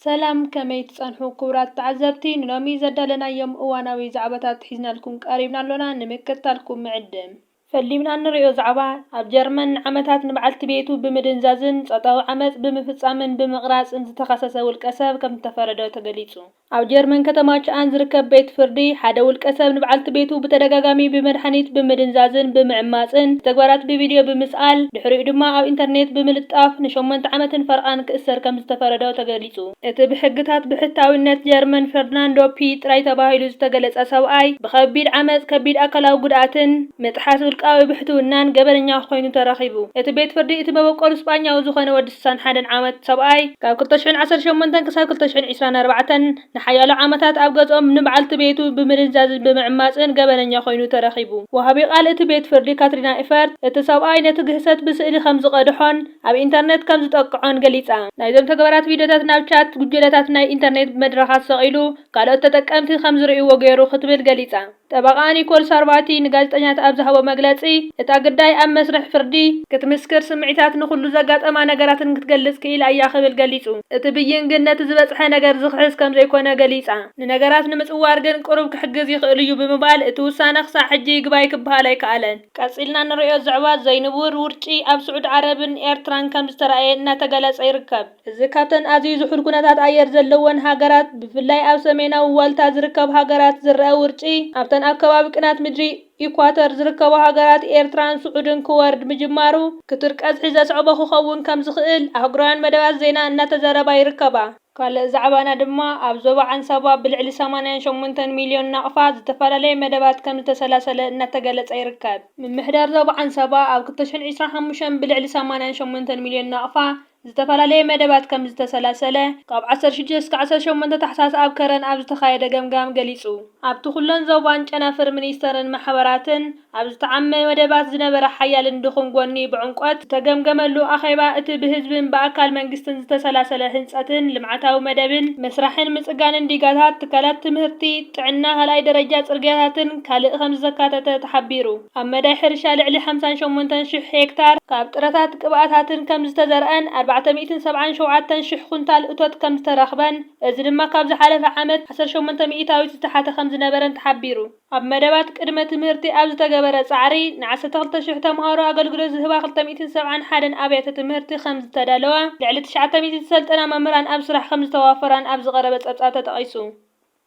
ሰላም ከመይ ትጸንሑ ክቡራት ተዓዘብቲ ንሎሚ ዘዳለናዮም እዋናዊ ዛዕባታት ሒዝናልኩም ቀሪብና ኣሎና ንምክትታልኩም ንዕድም። ፈሊምና እንርእዮ ዛዕባ፣ ኣብ ጀርመን ንዓመታት ንበዓልቲ ቤቱ ብምድንዛዝን ጾታዊ ዓመጽ ብምፍጻምን ብምቕራጽን ዝተኸሰሰ ውልቀሰብ ከምዝተፈረዶ ተገሊጹ። ኣብ ጀርመን ከተማ ችኣን ዝርከብ ቤት ፍርዲ፣ ሓደ ውልቀሰብ ንበዓልቲ ቤቱ ብተደጋጋሚ ብመድሃኒት ብምድንዛዝን ብምዕማጽን፣ ብተግባራት ብቪድዮ ብምስኣል፣ ድሕሪኡ ድማ ኣብ ኢንተርኔት ብምልጣፍ ንሸሞንተ ዓመትን ፈረቓን ክእሰር ከምዝተፈረዶ ተገሊጹ። እቲ ብሕግታት ብሕታዊነት ጀርመን ፈርድናንዶ ፒ ጥራይ ተባሂሉ ዝተገለጸ ሰብኣይ፣ ብኸቢድ ዓመጽ፣ ከቢድ ኣካላዊ ጉድኣትን ምጥሓስ ውልቃዊ ብሕትውናን ገበነኛ ኮይኑ ተረኺቡ። እቲ ቤት ፍርዲ፣ እቲ መበቆሉ ስጳኛዊ ዝኾነ ወዲ ስሳን ሓደን ዓመት ሰብኣይ፣ ካብ ክልተ ሽሕን ዓሰርተ ሸሞንተን ክሳብ ክልተ ሽሕን ዒስራን ኣርባዕተን ንሓያሎ ዓመታት ኣብ ገዝኦም ንብዓልቲ ቤቱ ብምድንዛዝን ብምዕማጽን ገበነኛ ኮይኑ ተረኺቡ። ወሃቢ ቃል እቲ ቤት ፍርዲ ካትሪና ኢፈርት፣ እቲ ሰብኣይ ነቲ ግህሰት ብስእሊ ከምዝቐድሖን፣ ኣብ ኢንተርነት ከም ዝጠቅዖን ገሊጻ። ናይዞም ተግባራት ቪድዮታት ናብ ቻት ጉጀለታት ናይ ኢንተርኔት መድረኻት ሰቒሉ ካልኦት ተጠቀምቲ ከም ዝርእይዎ ገይሩ ክትብል ገሊጻ። ጠበቓኣ ኒኮል ሳርቫቲ ንጋዜጠኛታት ኣብ ዝሃቦ መግለጺ፣ እታ ግዳይ ኣብ መስርሕ ፍርዲ፣ ክትምስክር ስምዒታትን ንኹሉ ዘጋጠማ ነገራትን ክትገልጽ ክኢላ እያ ክብል ገሊጹ። እቲ ብይን ግን ነቲ ዝበጽሐ ነገር ዝኽሕስ ከም ዘይኮነ ገሊጻ። ንነገራት ንምጽዋር ግን ቅሩብ ክሕግዝ ይኽእል'ዩ ብምባል፣ እቲ ውሳነ ክሳዕ ሕጂ ይግባይ ክበሃል ኣይከኣለን። ቀጺልና ንርእዮ ዘዕባ ዘይንቡር ውርጪ ኣብ ስዑድ ዓረብን ኤርትራን ከምዝተራእየ እናተገለጸ ይርከብ። እዚ ካብተን ኣዝዩ ዝሑል ኩነታት ኣየር ዘለወን ሃገራት ብፍላይ ኣብ ሰሜናዊ ዋልታ ዝርከብ ሃገራት ዝረኣ ውርጪ ኣብተን ኣብ ከባቢ ቅናት ምድሪ ኢኳተር ዝርከባ ሃገራት ኤርትራን ስዑድን ክወርድ ምጅማሩ ክቱር ቀዝሒ ዘስዐቦ ክኸውን ከምዝኽእል ኣህጉራውያን መደባት ዜና እናተዘረባ ይርከባ። ካልእ ዛዕባና ድማ ኣብ ዞባ ዓንሳባ ብልዕሊ ሰማንያን ሸሞንተን ሚልዮን ናቕፋ ዝተፈላለየ መደባት ከምዝተሰላሰለ እናተገለፀ ይርከብ። ምምሕዳር ዞባ ዓንሳባ ኣብ ክልተ ሽሕን ዒስራን ሓሙሽተን ብልዕሊ ሰማንያን ሸሞንተን ሚልዮን ናቕፋ ዝተፈላለየ መደባት ከምዝተሰላሰለ ካብ ዓሰርተ ሽዱሽተ እስከ ዓሰርተ ሸሞንተ ታሕሳስ ኣብ ከረን ኣብ ዝተኻየደ ገምጋም ገሊፁ። ኣብቲ ኩለን ዞባን ጨናፍር ሚኒስተርን ማሕበራትን፣ ኣብ ዝተዓመ መደባት ዝነበረ ሓያልን ድኹም ጎኒ ብዕምቆት ዝተገምገመሉ ኣኼባ፣ እቲ ብህዝብን ብኣካል መንግስትን ዝተሰላሰለ ህንጸትን ልምዓታዊ መደብን፣ ምስራሕን ምጽጋንን ዲጋታት ትካላት ትምህርቲ፣ ጥዕና፣ ካልኣይ ደረጃ ጽርግያታትን ካልእ ከምዘካተተ ተሓቢሩ። ኣብ መዳይ ሕርሻ ልዕሊ ሓምሳን ሸሞንተን ሽሕ ሄክታር ካብ ጥረታት ቅብኣታትን ከምዝተዘርኣን ኣርባዕተ ሚእትን ሰብዓን ሸውዓተን ሽሕ ኩንታል እቶት ከምዝተረኽበን እዚ ድማ ካብ ዝሓለፈ ዓመት ዓሰርተ ሸሞንተ ሚኢታዊት ዝተሓተ ከምዝነበረን ተሓቢሩ። ኣብ መደባት ቅድመ ትምህርቲ ኣብ ዝተገበረ ፃዕሪ ንዓሰርተ ክልተ ሽሕ ተምሃሮ ኣገልግሎት ዝህባ ክልተ ሚእትን ሰብዓን ሓደን ኣብያተ ትምህርቲ ከምዝተዳለዋ፣ ልዕሊ ትሽዓተ ሚእቲ ዝሰልጠና መምህራን ኣብ ስራሕ ከምዝተዋፈራን ኣብ ዝቐረበ ፀብፃብ ተጠቒሱ።